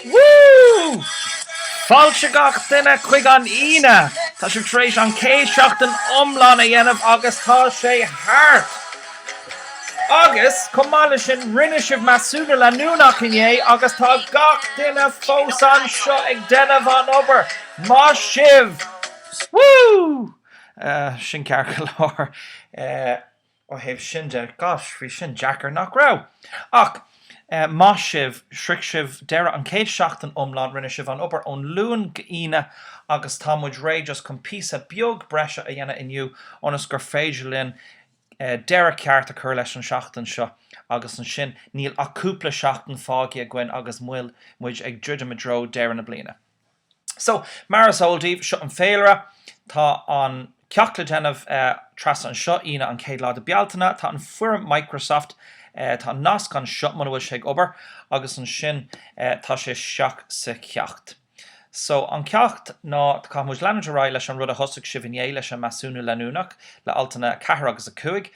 Woo! Fáilte gach duine chuig an Aoine! Tá sibh tar éis an chéad seachtain iomlán a dhéanamh agus tá sé thart! Agus, chomh maith le sin, rinne sibh measúnú leanúnach inné agus tá gach duine fós anseo ag déanamh an obair. Maith sibh! Woo! Sin ceart go leor. Ó thaobh sin de, gosh, bhí sin deacair, nach raibh? Ach maith sibh, shroich sibh deireadh an chéad seachtain iomlán, rinne sibh an obair ón Luan go Aoine agus tá muid réidh just chun píosa beag breise a dhéanamh inniu ionas gur féidir linn deireadh ceart a chur leis an seachtain seo agus ansin níl ach cúpla seachtain fágaithe againn agus muid ag druidim i dtreo deireadh na bliana. So, mar is eol daoibh, seo an féilire. Tá an ceacht le déanamh trasna anseo, Aoine an chéad lá de Bealtaine. Tá an foirm Microsoft, tá an nasc anseo muna bhfuil sé ag obair, agus ansin tá sé isteach sa cheacht. So, an ceacht ná, caithfidh muid leanúint ar aghaidh leis an rud a thosaigh sibh inné, leis an measúnú leanúnach, le altanna 4 agus 5,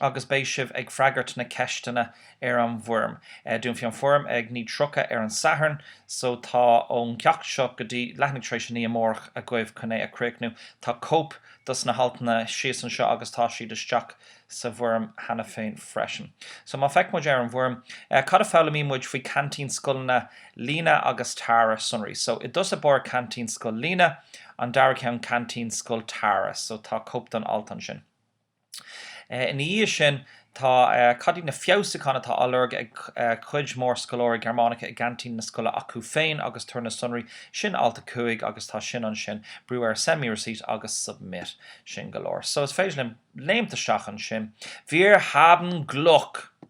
agus beidh sibh ag freagairt na ceisteanna. ar an bhfoirm. Dúnfaidh an foirm ag 9:30 ar an Satharn so tá ón gceacht seo go dtí leathuair tar éis a naoi amárach agaibh chun é a chríochnú. Tá cóip dos na haltanna síos anseo agus tá siad isteach sa bhfoirm cheana féin freisin. So má feic muid ar an bhfoirm, cad a foghlaimíonn muid faoi ceaintín scoileanna Lina agus Tara sonraí? So i dtús báire ceaintín scoil Lina, an dara ceann ceaintín scoil Tara so tá cóip don alt ansin. Ina dhiaidh sin, tá cad iad na feabhsúcháin atá á lorg ag cuid mhór scoláirí Gearmánacha i gceaintín na scoile acu féin agus tabhair na sonraí, sin alt a 5 agus tá sin ansin, brú ar Send me receipt agus Submit, sin go leor. So, is féidir linn léimt isteach ansin. Wir haben Glück!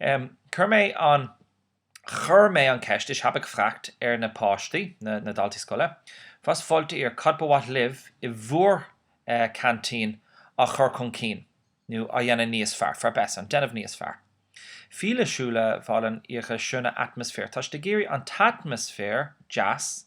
Chuir mé an Chuir mé an ceist, ich habe gefragt, na páistí, na daltaí scoile, was wollt ihr, cad ba mhaith libh i bhur canteen á chur chun cinn, nó á dhéanamh níos fearr, verbessern, déanamh níos fearr. Viele Schüler wollen ihre schöne Atmosphäre Tá siad ag iarraidh an t-atmaisféar deas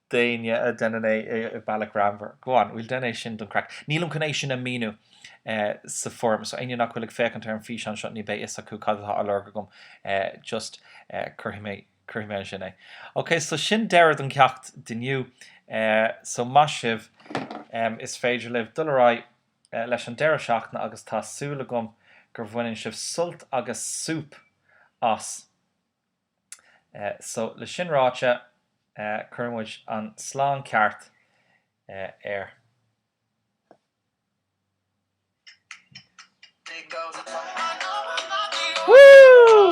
d'éinne a dhéanann é i bealach greannmhar. Go on, we'll déan é sin don craic. Nílim chun é sin a mhíniú sa foirm, so éinne nach bhfuil ag féachaint ar an físeán seo ní beidh fhios acu cad atá á lorg agam, just cuirfidh mé cuirfidh mé ansin é. Ok, so sin deireadh don cheacht d'inniu, so maith sibh, is féidir libh dul ar aghaidh leis an deireadh seachtaine agus tá súil agam gur bhaineann sibh sult agus súp as! So, le sin ráite, cuireann muid an slán ceart air. Woo!